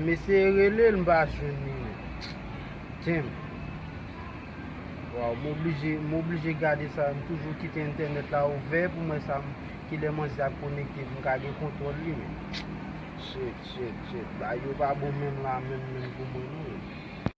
M eseye relel m pa jwenn li non. Damn. Waw m oblije m oblije gade sa m toujou kite entènèt la ouvè pou m wè sa m kilè manzè ap konekte pou m ka gen kontwòl li men. Shit shit shit bagay yo pa bon menm la menm menm pou mwen non.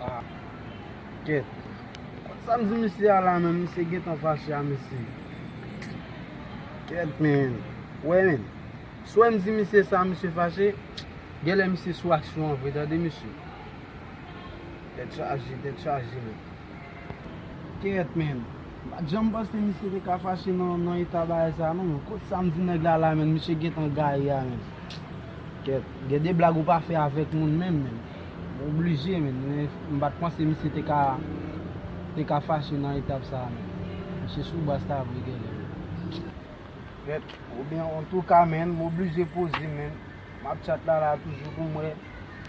Ah kèt. Sam di misye a la menm misye gentan fache a mesye kèt menn ou wè menn si wèm di misye sa misye fache genlè misye sou aksyon an vre tande mesye tèt chaje tèt chaje menn kèt menn pat janm panse misye te ka fache nan eta bagay sa non menn kot sam di nèg la la menn misye gentan gaye a menn kèt gen de blag ou pa fè avèk moun menm menn. Ou oblije men, men m pat panse misye te ka te ka fache nan etap sa a menm. Misye sou bas la vre genlè wi. Bèt ou byen antouka menn m oblije poze menn m ap chat la la toujou pou m wè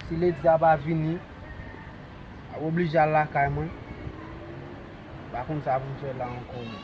si lady a pa vini m ap oblije al lakay mwen m pa konn sa pou m fè la ankò menn.